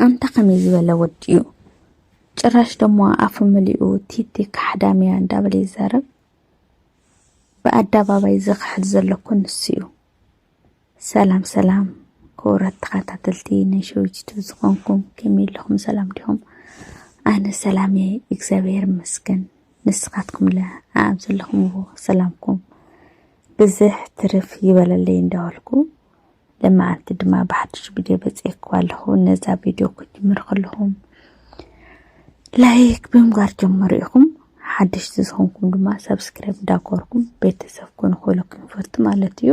ኣንታ ከመይ ዝበለ ወዲ እዩ ጭራሽ ደሞ ኣፉ መሊኡ ቲቲ ካሕዳም እያ እንዳበለ ይዛረብ ብኣደባባይ ዝኽሕድ ዘሎ እኮ ንሱ እዩ ሰላም ሰላም ክቡራት ተኸታተልቲ ናይ ሸዊጅቱ ዝኾንኩም ከመይ ኣለኹም ሰላም ዲኹም ኣነ ሰላም እየ እግዚኣብሔር ይመስገን ንስኻትኩም ለ ኣብ ዘለኹምዎ ሰላምኩም ብዝሕ ትርፍ ይበለለይ እንዳበልኩ ለመዓንቲ ድማ ብሓድሽ ቪድዮ በፂኤክዋ ኣለኹ ነዛ ቪድዮ ክጅምር ከለኹም ላይክ ብምግባር ጀመሩ ኢኹም ሓደሽቲ ዝኾንኩም ድማ ሰብስክራይብ እንዳኮርኩም ቤተሰብ ኮኑ ክብሎ ክንፈቱ ማለት እዩ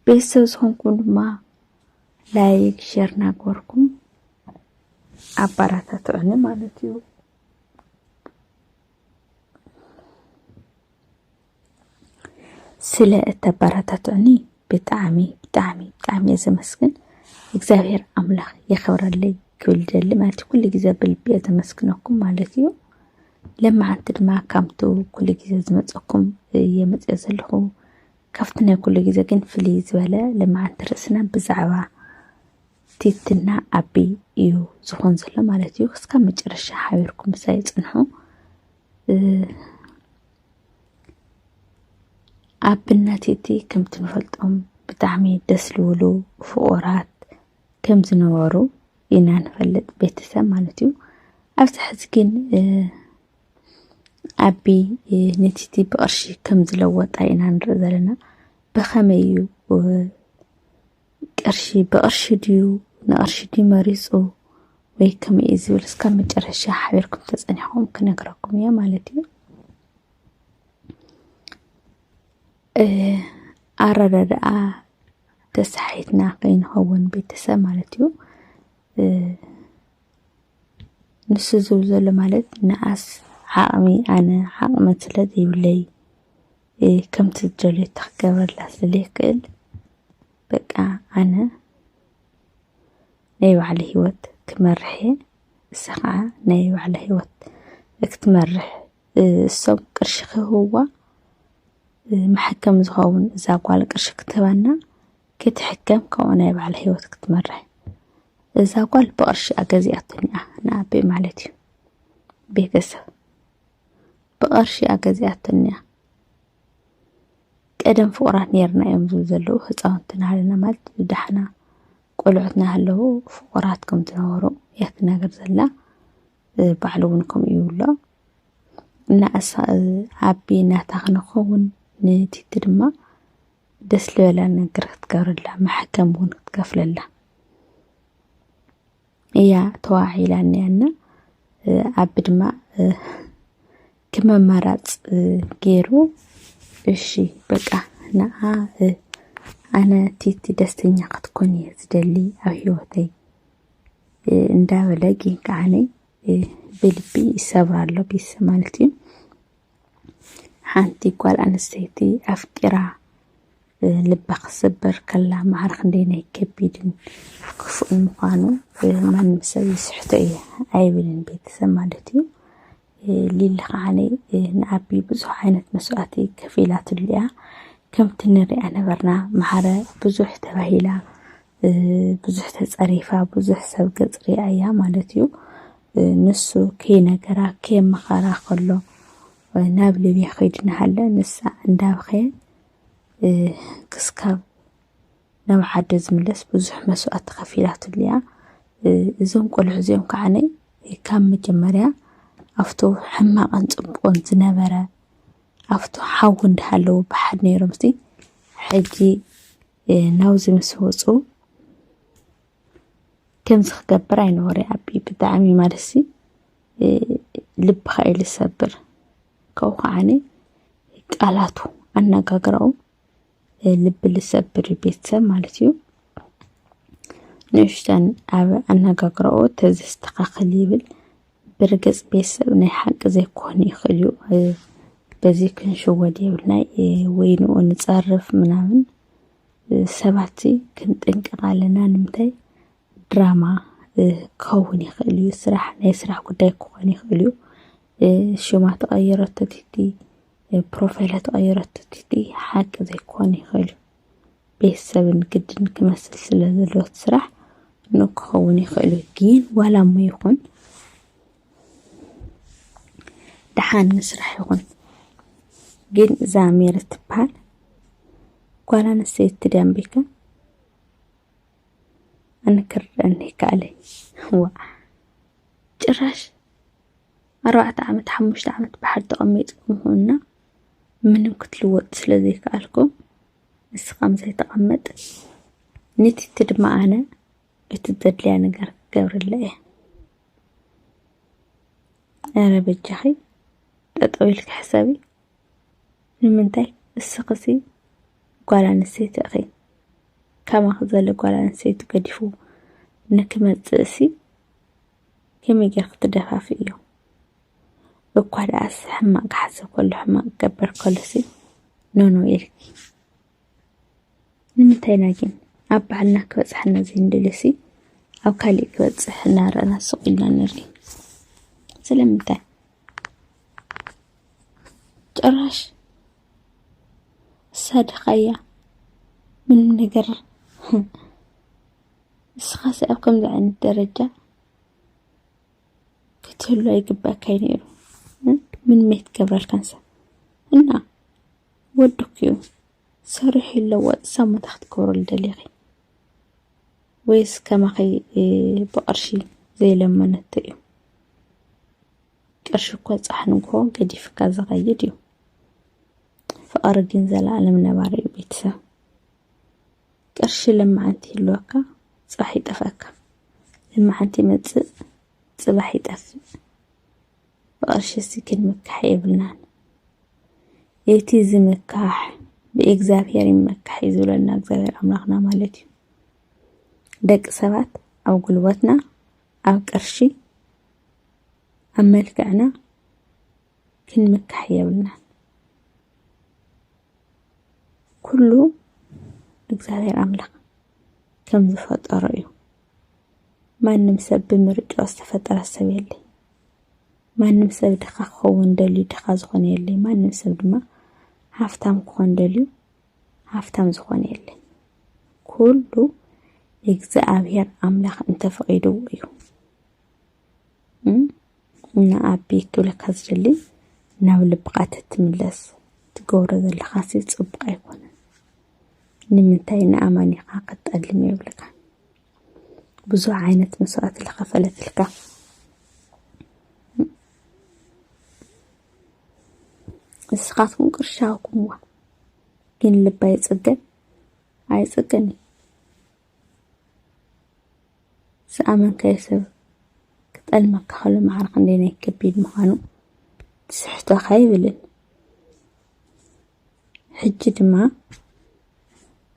ቤተሰብ ዝኾንኩም ድማ ላይክ ሸር እናገበርኩም ኣባራታትዑኒ ማለት እዩ ስለ እተበረታትዑኒ ብጣዕሚ ብጣዕሚ ብጣዕሚ እየ ዘመስግን እግዚኣብሔር ኣምላኽ የኸብረለይ ክብል ደሊ ማለት እዩ ኩሉ ግዜ ብልቢ እየ ዘመስግነኩም ማለት እዩ ለማዓንቲ ድማ ካብቲ ኩሉ ግዜ ዝመፀኩም እየ መፅኦ ዘለኹ ካብቲ ናይ ኩሉ ግዜ ግን ፍልይ ዝበለ ለማዓንቲ ርእስና ብዛዕባ ቲትና ኣቢ እዩ ዝኾን ዘሎ ማለት እዩ ክስካብ መጨረሻ ሓቢርኩም ምሳይ ፅንሑ ኣብነት እቲ ከምቲ ንፈልጦም ብጣዕሚ ደስ ዝብሉ ፍቑራት ከም ዝነበሩ ኢና ንፈልጥ ቤተሰብ ማለት እዩ። ኣብዚ ሕዚ ግን ኣቢ ንቲቲ ብቕርሺ ከም ዝለወጣ ኢና ንርኢ ዘለና። ብኸመይ እዩ ቅርሺ ብቅርሺ ድዩ ንቅርሺ ድዩ መሪጹ ወይ ከመይ እዩ ዝብል እስካብ መጨረሻ ሓቢርኩም ተጸኒሕኩም ክነግረኩም እየ ማለት እዩ። ኣረዳድኣ ተሳሒትና ከይንኸውን ቤተሰብ ማለት እዩ ንሱ ዝብል ዘሎ ማለት ንኣስ ዓቕሚ ኣነ ዓቕሚ ስለ ዘይብለይ ከምቲ ዝደልዮ እታ ክገብረላ ስለዘይክእል በቃ ኣነ ናይ ባዕለ ህይወት ክመርሕ እየ እሳ ከዓ ናይ ባዕለ ህይወት ክትመርሕ እሶም ቅርሺ ክህብዋ መሐከም ዝኸውን እዛ ጓል ቅርሺ ክትህበና ክትሕከም ከምኡ ናይ ባዕለ ህይወት ክትመርሕ እዛ ጓል ብቅርሺ ኣገዚኣቶኒ እያ ንኣቤ ማለት እዩ ቤተሰብ ብቐርሺ እያ ገዚኣቶኒያ ቀደም ፍቑራት ኔርና እዮም ዝብሉ ዘለዉ ህፃውንቲ ናሃለና ማለት ብደሓና ቆልዑት ናሃለዉ ፍቑራት ከም ዝነበሩ እያ ትናገር ዘላ ባዕሉ እውን ከምኡ እዩ ይብሎ እና እሳ ኣቢ ናታ ክንኸውን ንቲቲ ድማ ደስ ልበላ ነገር ክትገብረላ መሐከም እውን ክትከፍለላ እያ ተዋዒላ እኒያና ኣቢ ድማ ከም ኣማራፅ ገይሩ እሺ በቃ ንዓ ኣነ ቲቲ ደስተኛ ክትኮን እየ ዝደሊ ኣብ ሂወተይ እንዳበለ ግን ከዓኒ ብልቢ ይሰብራ ኣሎ ቤተሰብ ማለት እዩ ሓንቲ ጓል ኣንስተይቲ ኣፍቂራ ልባ ክትሰበር ከላ ማዕረ ክንደየናይ ከቢድን ክፉእን ምዃኑ ማንም ሰብ ይስሕቶ እየ ኣይብልን ቤተሰብ ማለት እዩ ሊሊ ከዓነ ንኣቢ ብዙሕ ዓይነት መስዋእቲ ከፊላትሉ እያ ከምቲ ንሪኣ ነበርና ማዕረ ብዙሕ ተባሂላ ብዙሕ ተፀሪፋ ብዙሕ ሰብ ገፅ ሪኣ እያ ማለት እዩ ንሱ ከይነገራ ከየመኸራ ከሎ ናብ ሊብያ ከይድናሃለ ንሳ እንዳበኸየት ክስካብ ናብ ዓደ ዝምለስ ብዙሕ መስዋእቲ ከፊላትሉ እያ። እዞም ቆልዑ እዚኦም ከዓ ካብ መጀመርያ ኣብቲ ሕማቕን ፅቡቕን ዝነበረ ኣብቲ ሓዊ እንዳሃለዉ ብሓደ ነይሮም ሕጂ ናብዚ ምስ ወፁ ከምዚ ክገብር ኣይነበሮ ይኣቢ ብጣዕሚ ማለትሲ ልብኻ እዩ ልሰብር ካብኡ ከዓኒ ቃላቱ ኣነጋግራኡ ልቢ ልሰብር እዩ ቤተሰብ ማለት እዩ ንእሽተን ኣብ ኣነጋግራኡ ተዘስተኻኽል ይብል ብርግፅ ቤተሰብ ናይ ሓቂ ዘይኮን ይኽእል እዩ በዚ ክንሽወድ የብልናይ ወይንኡ ንፀርፍ ምናምን ሰባትሲ ክንጥንቀቕ ኣለና ንምንታይ ድራማ ክኸውን ይኽእል እዩ ስራሕ ናይ ስራሕ ጉዳይ ክኾን ይኽእል እዩ ሽማ ተቐይረቶ ትህቲ ፕሮፋይላ ተቐይረቶ ትህቲ ሓቂ ዘይክኾን ይኽእል እዩ ቤተሰብን ግድን ክመስል ስለ ዘለዎ እቲ ስራሕ ኖእ ክኸውን ይኽእል እዩ ግን ዋላ እሞ ይኹን ደሓን ንስራሕ ይኹን ግን እዛ ሜሪ ትበሃል ጓል ኣንስተይቲ ድያ እምበይከ ኣነ ክርድኣኒ ይከኣለ ዋ ጭራሽ ኣርባዕተ ዓመት ሓሙሽተ ዓመት ብሓድ ተቐሚጥኩም ሁና ምንም ክትልወጥ ስለ ዘይከኣልኩም ንስኻም ዘይተቐመጥ ንቲቲ ድማ ኣነ እቲ ዘድልያ ነገር ክገብረላ እየ። ኣረ በጃኺ ጠጠው ኢልኪ ሕሰቢ። ንምንታይ እስኽሲ ጓል ኣንስተይቲ እኺ ከማኺ ዘለ ጓል ኣንስተይቲ ገዲፉ ንክመፅእ እሲ ከመይ ጌርኪ ትደፋፊ እዩ እኳ ደኣስ ሕማቅ ክሓስብ ከሎ ሕማቅ ክገበር ከሎሲ ኖኖ ኢልኪ ንምንታይ ኢና ግን ኣብ ባዕልና ክበጽሓና ዘይንደልዮሲ ኣብ ካሊእ ክበጽሕ እናረኣና ስቕ ኢልና ንርኢ? ስለምንታይ? ጭራሽ እሳ ድኻ እያ ምንም ነገር እስኻሲ ኣብ ከምዚ ዓይነት ደረጃ ክትህሉ ኣይግባእካይ ነይሩ ምንም ኣይትገብረልካን ሰብ እና ወድኪ ዩ ሰሪሑ ይለወጥ ሰብ ሞታ ክትገብረሉ ደሊኪ ወይስ ከማኺ ብቅርሺ ዘይለመነቶ እዩ ቅርሺ እኮ ፃሕ ንግሆ ገዲፍካ ዝኸይድ እዩ ፍቅሪ ግን ዘላለም ነባሪ እዩ ቤተሰብ ቅርሺ ልምዓንቲ ይህልወካ ፅባሕ ይጠፍኣካ ልምዓንቲ ይመፅእ ፅባሕ ይጠፍእ ብቐርሺ ሲክል ምካሕ የብልናን። እቲ ዝምካሕ ብእግዚኣብሔር ይመካሕ እዩ ዝብለና እግዚኣብሔር ኣምላኽና ማለት እዩ። ደቂ ሰባት ኣብ ጉልበትና፣ ኣብ ቅርሺ፣ ኣብ መልክዕና ክንምካሕ የብልናን። ኩሉ እግዚኣብሔር ኣምላኽ ከም ዝፈጠሮ እዩ። ማንም ሰብ ብምርጫ ዝተፈጠረ ሰብ የለይ። ማንም ሰብ ድኻ ክኸውን ደልዩ ድኻ ዝኾነ የለይ ማንም ሰብ ድማ ሃፍታም ክኾን ደልዩ ሃፍታም ዝኾነ የለይ ኩሉ እግዚኣብሔር ኣምላኽ እንተፈቒድዎ እዩ እና ኣቢ ክብለካ ዝደሊ ናብ ልብኻ ተትምለስ ትገብሮ ዘለኻ ሲ ፅቡቕ ኣይኮነን ንምንታይ ንኣማኒኻ ከጠልም የብልካ ብዙሕ ዓይነት መስዋእቲ ዝኸፈለትልካ ንስኻትኩም ቅርሺ ሃብኩምዋ፣ ግን ልባ ይጽገን ኣይጽገን እዩ። ዝኣመንካዮ ሰብ ክጠልመካ ከሎ ማዕረ ክንደይ ናይ ከቢድ ምዃኑ ትስሕቶ ኣይብልን። ሕጂ ድማ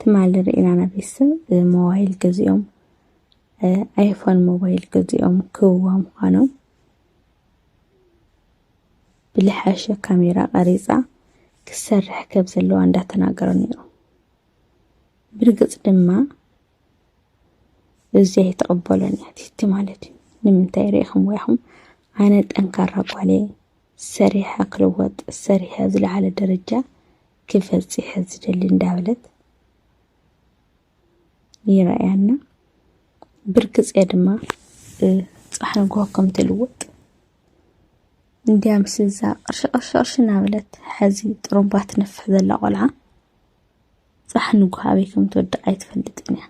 ትማሊ ርኢና ናብ ቤተሰብ ሞባይል ገዚኦም ኣይፎን ሞባይል ገዚኦም ክህብዋ ምዃኖም ብልሓሸ ካሜራ ቀሪፃ ክሰርሕ ከብ ዘለዋ እንዳተናገረ ነይሩ። ብርግፅ ድማ እዚ ኣይተቐበሎን እያ ትህቲ ማለት እዩ። ንምንታይ ርኢኹም ወይኹም ኣነ ጠንካራ ጓል እየ ሰሪሐ ክልወጥ ሰሪሐ ኣብ ዝለዓለ ደረጃ ክበፅሕ ዝደሊ እንዳበለት ይረኣያና ብርግፅ እየ ድማ ፅባሕ ንግሆ ከም ትልወጥ እንዲያ ምስ እዛ ቅርሺ ቅርሺ ቅርሺ እናበለት ሕዚ ጥሩምባ ትነፍሕ ዘላ ቆልዓ ፅባሕ ንግሆ ኣበይ ከም ትወድቕ ኣይትፈልጥን እያ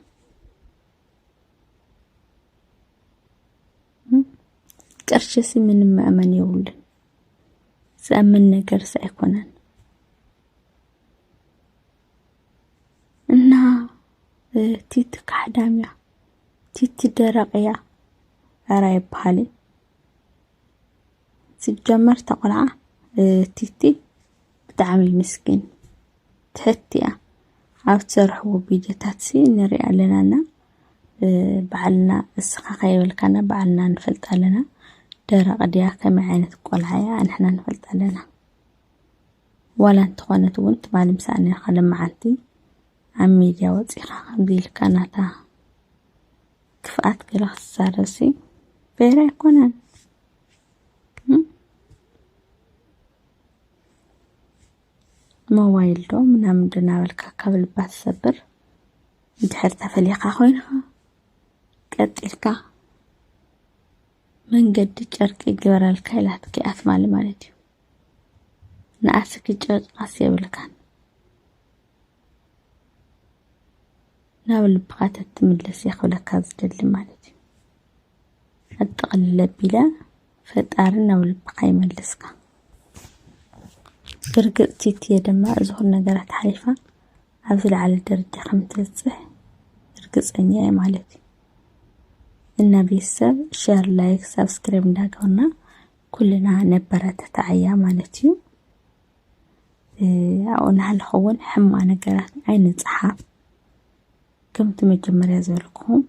ቅርሽሲ ምንም መእመን የብሉን ዝኣምን ነገርስ ኣይኮነን እና ቲቲ ካሕዳም እያ ቲቲ ደረቕ እያ ኧረ ኣይበሃልን ሲጀመር ተቆልዓ ቲቲ ብጣዕሚ ምስኪን ትሕቲ እያ ኣብ ትሰርሕዎ ቢጀታትሲ ንሪኣ ኣለና እና ባዕልና እስኻ ከይበልካና ባዕልና ንፈልጥ ኣለና ደረቕ ድያ ከመይ ዓይነት ቆልዓ እያ ኣንሕና ንፈልጥ ኣለና ዋላ እንተኾነት እውን ትማሊ ምሳኣ ነርካ ለመዓንቲ ኣብ ሚድያ ወፂኻ ከምዚ ኢልካ ናታ ክፍኣት ገለ ክትዛረብሲ ፌር ኣይኮነን ሞባይል ዶ ምናምን ዶ እናበልካ ካብ ልባ ትሰብር እንድሕር ተፈሊኻ ኮይንኻ ቀጢልካ መንገዲ ጨርቂ ግበረልካ ኢላትኪ ኣትማሊ ማለት እዩ ንኣስኪ ጨርቃስ የብልካን ናብ ልብኻ ተትምለስ እየ ክብለካ ዝደሊ ማለት እዩ ኣብ ጥቕልል ኣቢለ ፈጣሪ ናብ ልብኻ ይመልስካ። ብርግጽ ቲቲየ ድማ እዚ ኹሉ ነገራት ሓሊፋ ኣብ ዝለዓለ ደረጃ ከም ትብጽሕ ርግጸኛ እየ ማለት እዩ። እና ቤተሰብ ሸር፣ ላይክ፣ ሳብስክራይብ እንዳገበርና ኩልና ነበረታትዓያ ማለት እዩ። ኣብኡ እናሃለኹ እውን ሕማቕ ነገራት ኣይንጽሓፍ። ከምቲ መጀመርያ ዝበልኩኹም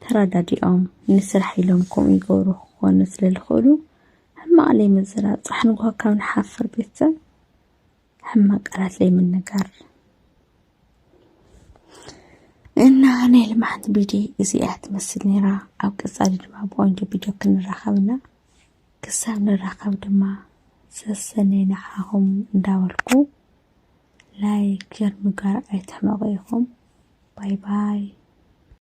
ተራዳዲኦም ንስራሕ ኢሎም ከምኡ ይገብሩ ክኾኑ ስለ ልኽእሉ ሕማቕ ለይምዝራብ ጻሕ ንግሆ ካብ ንሓፍር ቤተሰብ ሕማቕ ቃላት ለይምንጋር እና ናይ ልምዓት ቢዲ እዚኣ ትመስል ነይራ ኣብ ቀጻሊ ድማ ብቆንጆ ቪድዮ ክንራኸብና ክሳብ ንራኸብ ድማ ሰሰነይ ንዓኹም እንዳበልኩ ላይክ ሸር ምግባር ኣይትሕመቁ ኢኩም ባይ ባይ።